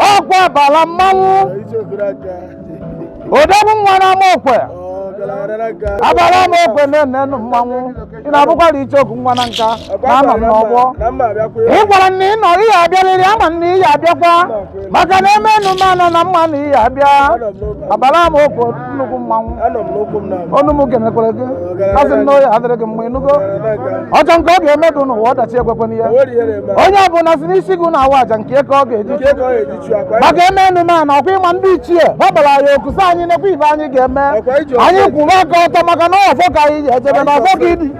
ọkwa abala mmanwụ odogwu nwa n'ama okwe abala ama okwe na-enenụ mmanwụ ị na-abụkwara icheoku nwa Nanka na anọ m n'ọgbọ ị gwara m na ị nọ ị ya abịarịrị ama m na ị ya abịakwa maka na emenume a na m ma na ị ya abịa abala ama okwe nnukwu mmanwụ anọ m n'ụkwụ m na ọnụ m ga-emekwere gị asị m na ọ ya adịrị gị mma ị nụgo ọjọọ nke ọ ga-eme gị n'ụwa ọdachi ekwekwana ya nwere ihe na-eme onye ọbụla sị n'isi gị na-awa aja nke ka ọ ga-eji nke ka ọ ga-eji chụọ akwa maka emenume a na ọkwa ịma ndị ichie gbabara anyị oku sị anyị nekwa ive anyị ga-eme Ọkwa iji ọkwa anyị eji kwụrụ aka ọtọ maka na ọfọ ka anyị ji ejebe na ọfọ ka idi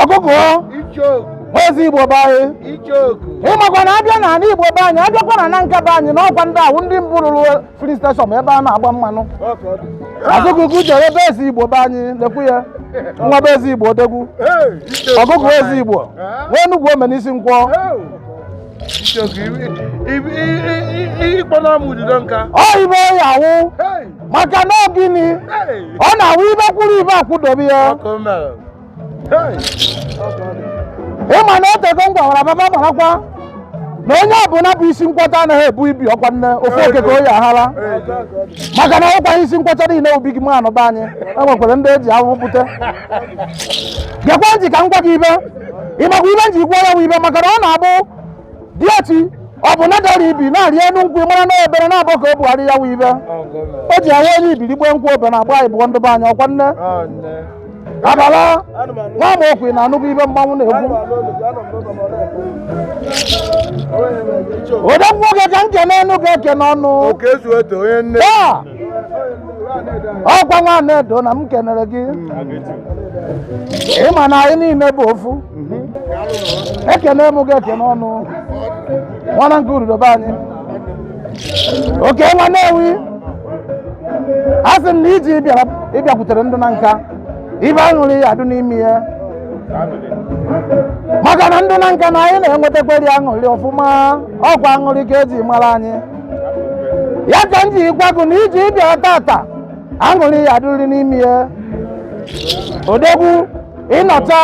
ọgụgụ Ezeigbo be anyị ịmakwa na abịa na ala igbo be anyị abịakwa na Nanka be anyị na ọkwa ndị ahụ ndị mbụ rụrụ filling station ebe a na-agba mmanụ azụgụgụ jere be Ezeigbo be anyị lekwu ya nwa be Ezeigbo odegwu ọgụgụ Ezeigbo nwa enugwu omenisi nkwọ ọ ive ọ ya awụ maka na gịnị ọ na-awụ ive kwụrụ ive akwụdobe ya ịma na o tego m gwawara baba marakwa na onye ọbụla bụ isi nkwọcha anaghị ebu ibi ọkwa na ofu oke ka ọ ya ahara maka na ọkwa isi nkwọcha niile obi gị manụ be anyị enwekwara ndị eji ahụhụ bute gekwa ntị ka m gwa gị ive ịmakwa ive m ji kwuo ya bụ ive maka na ọ na-abụ diochi ọbụna dara ibi na-arị enu nkwụ mara na obere na-abụ ka o bugharị ya bụ ive o ji ahụ onye ibi ribe nkwụ obere agba anyị bụọ ndụba anyị ọkwa nne abala nwa m okwu na anụbụ ibe mmanwụ na-egbu odogwu nwoke ka m kene enu ga-ekene ọnụ Oke zuo eto onye nne. taa ọkwa nwa Anaedo na m kenere gị ịma na anyị niile bụ ofu ekene m gị ekene ọnụ nwana nke urudo be anyị oke nwa Nnewi asị m na ije ị bịara ị bịakwutere ndị Nanka ive aṅụrị ya adụ n'ime ya maka na ndị Nanka na anyị na-enwetakarị aṅụrị ọfụma ọkwa aṅụrị ka eji mara anyị ya ka m ji gwa gị na ije ị bịa tata aṅụrị ya adịrị n'ime ya odegwu ị nata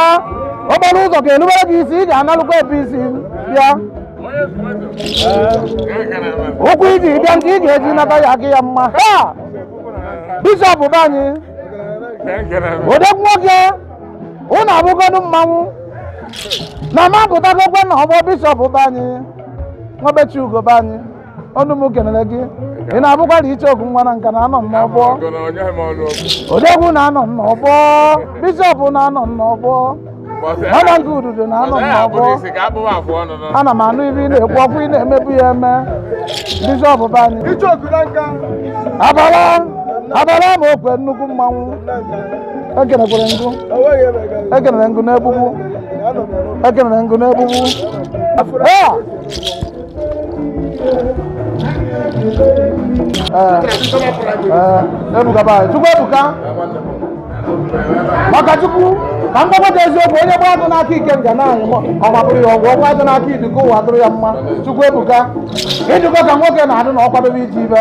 okporo ụzọ ga-erubere gị isi ị ga-analụ ka i si bịa ụkwụ i ji bịa nke ị ga-eji nata ya gị ya mma ha bishọp be anyị odegwu nwoke ụnụ abụgọdụ mmanwụ na m apụtagokwa na ọgbọ bishọp be anyị nwabechi ugo be anyị ọnụ m kenere gị ị na-abụkwa na icheoku nwa na nka na anọ m n'ọgbọ odegwu na anọ m n'ọgbọ bishọp na anọ m n'ọgbọ ọnọ nke ududo na anọ m n'ọgbọ ana m anụ ibe ị na-ekwu ọkwa ị na-emebu ya eme bishọp be anyị abala abala ma okwe nnukwu mmanwụ ekenekwere ngụ ekenere ngụ n'egbugbu ekenere ngụ n'egbugbu Ah! Eh, eh, ebuka ba chukwu ebuka maka chukwu ka m gbakwata eziokwu onye gba agụ n'aka ike ga na-anyị ọgbapụrụ ya ọgwụ ọgwa dị n'aka iduka ụwa dụrụ ya mma chukwu ebuka ị dụkwa ka nwoke na-adị na ọ kwadobe iji ibe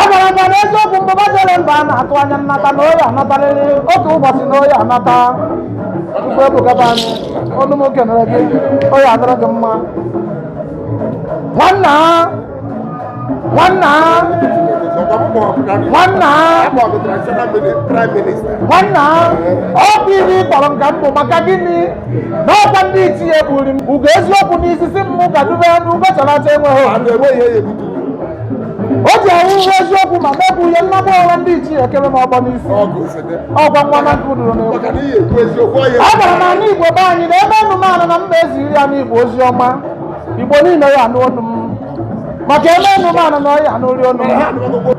agwara m ya na eziokwu mbụba jere mba a na-atụ anya nnata na ọ ya-anatarịrị otu ụbọchị na ọ ya-anata mgbe ebukata anyị ọnụ m kenere gị ọ ya-adịrị gị mma nwanna nwanna nwanna nwanna ọ bụ ihe ị kpọrọ m ka m bụ maka gịnị n'ọkwa ndị ichie bụri m ugo eziokwu n'isisi mmụ ka dube ya n'ugo chalata enweghị a na-enweghị ya ebubu o ji ahụ uwe eziokwu ma mebụ ihe nnagbu ọkwa ndị ichie ekere m ọgbọ n'isi ọgụ ofede ọgwa nwa na nka dụrụ n'egwu maka na ihe ekwu eziokwu ọya a gwara m ana igbo be anyị na ebe anụmanụ na mba eziri ana igbo ozi ọma igbo niile ya-anụ onu m maka ebe anụmanụ na ọ ya-anụrị onu m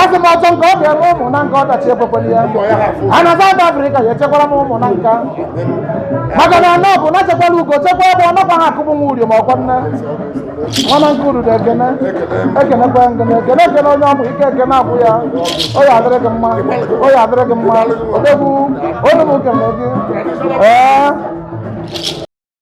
asị m ọchọ nke ọ ga-eme ụmụ na nke ọdachi ekwekwere ya a na South Africa ya echekwara m ụmụ na nka maka na anọ bụ na chekwara ugo chekwa ebe ọ nakwa ha akụbụ nwa uri ma ọkwa nne nwana nke uru ekene ekenekwa ngene ekene ekene onye ọbụ ike ekene abụ ya ọ ya-adịrị gị mma ọ ya-adịrị gị mma odegwu onye m kene gị ee